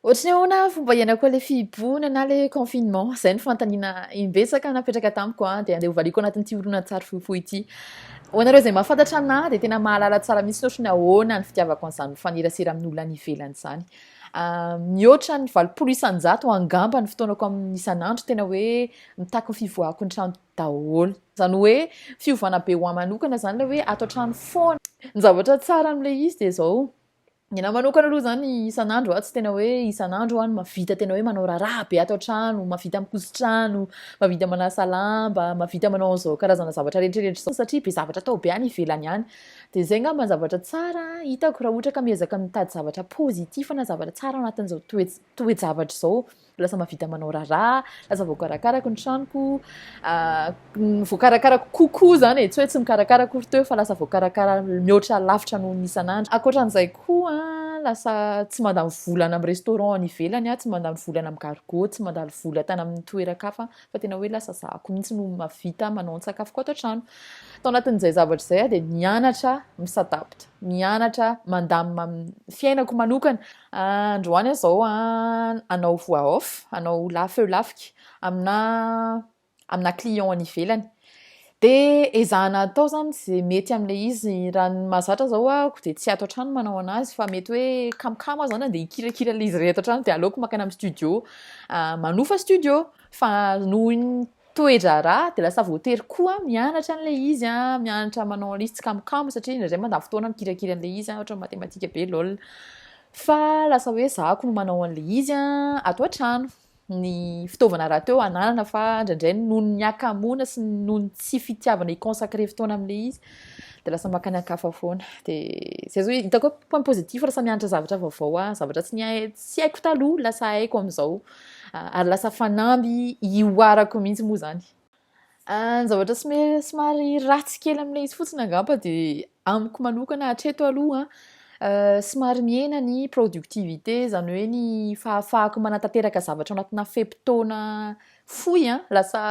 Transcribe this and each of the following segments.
Ohatry ny ahoana ny fomba iainako an'ilay fihibohana na ilay confinement? Izay no fanontaniana imbetsaka napetraka tamiko an, dia andeha hovaliako anatin'ity horonantsary fohifohy ity. Ho anareo izay mahafantatra anà dia tena mahalala tsara mihitsy ohatry ny ahoana ny fitiavako an'izany mifanerasera amin'olona any ivelany izany. Ah, mihoatra ny valopolo isan-jato angamba ny fotoanako amin'ny isan'andro tena hoe mitaky ny fivoahako ny trano daholo. Izany hoe fiovana be ho ahy manokana izany ilay hoe ato an-trano foana. Ny zavatra tsara amin'ilay izy dia izao, Ny anahy manokana aloha izany isan'andro aho tsy tena hoe isan'andro aho no mahavita tena hoe manao raharaha be ato an-trano, mahavita mikoson-trano, mahavita manasa lamba, mahavita manao an'izao karazana zavatra rehetrarehetra izao satria be zavatra atao be any ivelany any. Dia izay angamba ny zavatra tsara hitako raha ohatra ka miezaka mitady zavatra positif na zavatra tsara ao anatin'izao toe-javatra izao. Lasa mahavita manao raharaha, lasa voakarakarako ny tranoko, voakarakarako kokoa izany e, tsy hoe tsy mikarakara akory teo fa lasa voakarakara mihoatra lavitra noho ny isan'andro. Ankoatran'izay koa, lasa tsy mandany vola any amin'ny restaurant any ivelany aho, tsy mandany vola any amin'ny gargots, tsy mandany vola tany amin'ny toeran-kafa fa tena hoe lasa zahako mihitsy no mahavita manao ny sakafoko ato an-trano. Tao anatin'izay zavatra izay aho dia nianatra mi-s'adapte, nianatra mandamina amin'ny fiainako manokana. Androany aho zao an, hanao voix off, hanao la feu lafika amina amina client any ivelany. De ezahana atao zany ze mety amle izy, raha ny mahazatra zao aho de tsy ato an-trano manao anazy fa mety hoe kamokamo aho zany an de hikirakira le izy rehetra hatrany de aleoko makany am studio manofa studio fa noho iny toe-draharaha dia lasa voatery koa mianatra an'ilay izy a, mianatra manao an'ilay izy tsikamokamo satria indraindray mandany fotoana mikirakira an'ilay izy a, ohatra ny matematika be lol. Fa lasa hoe za ko no manao an'ilay izy a, ato an-trano. Ny fitaovana rahateo ananana fa indraindray noho ny hakamoana sy noho ny tsy fitiavana hi-consacrer fotoana amin'ilay izy dia lasa maka ny ankafa foana. Dia zay zao hitako hoe point positif raha samy mianatra zavatra vaovao a, zavatra tsy nihay- tsy haiko taloha lasa haiko amin'izao. Ary lasa fanamby ihoarako mihitsy moa izany. Ny zavatra somary ratsy kely amin'ilay izy fotsiny angamba dia amiko manokana hatreto aloha somary mihena ny productivité izany hoe ny fahafahako manatanteraka zavatra anatina fe-potoana fohy an, lasa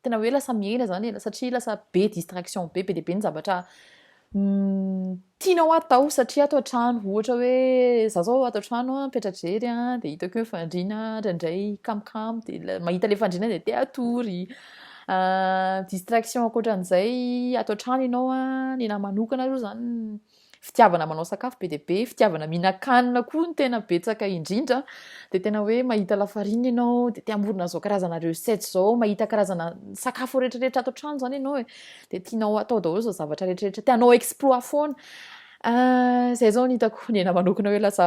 tena hoe lasa miaina zany e, satria lasa be distraction be be dia be ny zavatra mm, tianao atao satria ato an-trano ohatra hoe za zao ato an-trano a mipetra-drery a dia hitako hoe fandriana indraindray kamokamo dia mahita le fandriana dia te atory ah, distraction ankoatran'izay ato an-trano ianao a ny namanokana aloha zany fitiavana manao sakafo be dia be, fitiavana mihinan-kanina koa no tena betsaka indrindra, dia tena hoe mahita lafarina ianao, dia te hamorona izao karazana recette izao, mahita karazana sakafo rehetrarehetra ato an-trano izany ianao e, dia tianao atao daholo izao zavatra rehetrarehetra, te hanao exploit foana. Ah, izay izao no hitako ny ahy manokana hoe lasa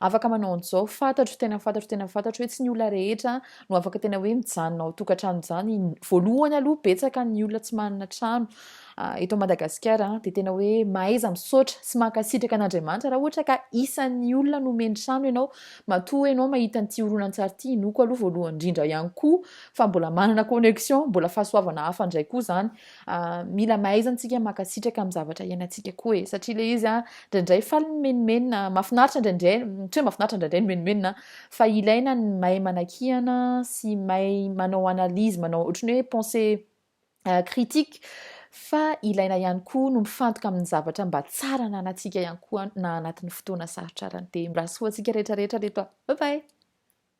Afaka manao an'izao, fantatro, tena fantatro, tena fantatro hoe tsy ny olona rehetra no afaka tena hoe mijanona ao tokantrano izany. Voalohany aloha betsaka ny olona tsy manana trano ah, eto Madagasikara ah, dia tena hoe mahaiza misaotra sy mankasitraka an'Andriamanitra raha ohatra ka isan'ny olona nomeny trano ianao, matoa ianao mahita an'ity horonantsary ity, inoako aloha voalohany indrindra ihany koa fa mbola manana connexion, mbola fahasoavana hafa indray koa izany. Ah, mila mahaiza antsika makasitraka amin'ny zavatra iainantsika koa e satria le izy a ndraindray faly ny menomenona mafinaritra ndraindray tsy hoe mafinaritra ndraindray ny menomenona fa ilaina ny mahay manakihana sy mahay manao analyse manao ohatry ny hoe pensée euh, critique fa ilaina ihany koa no mifantoka amin'ny zavatra mba tsara na anatsika ihany koa na anatin'ny fotoana sarotra arany dia mirasoa antsika rehetra rehetra reto a bye bye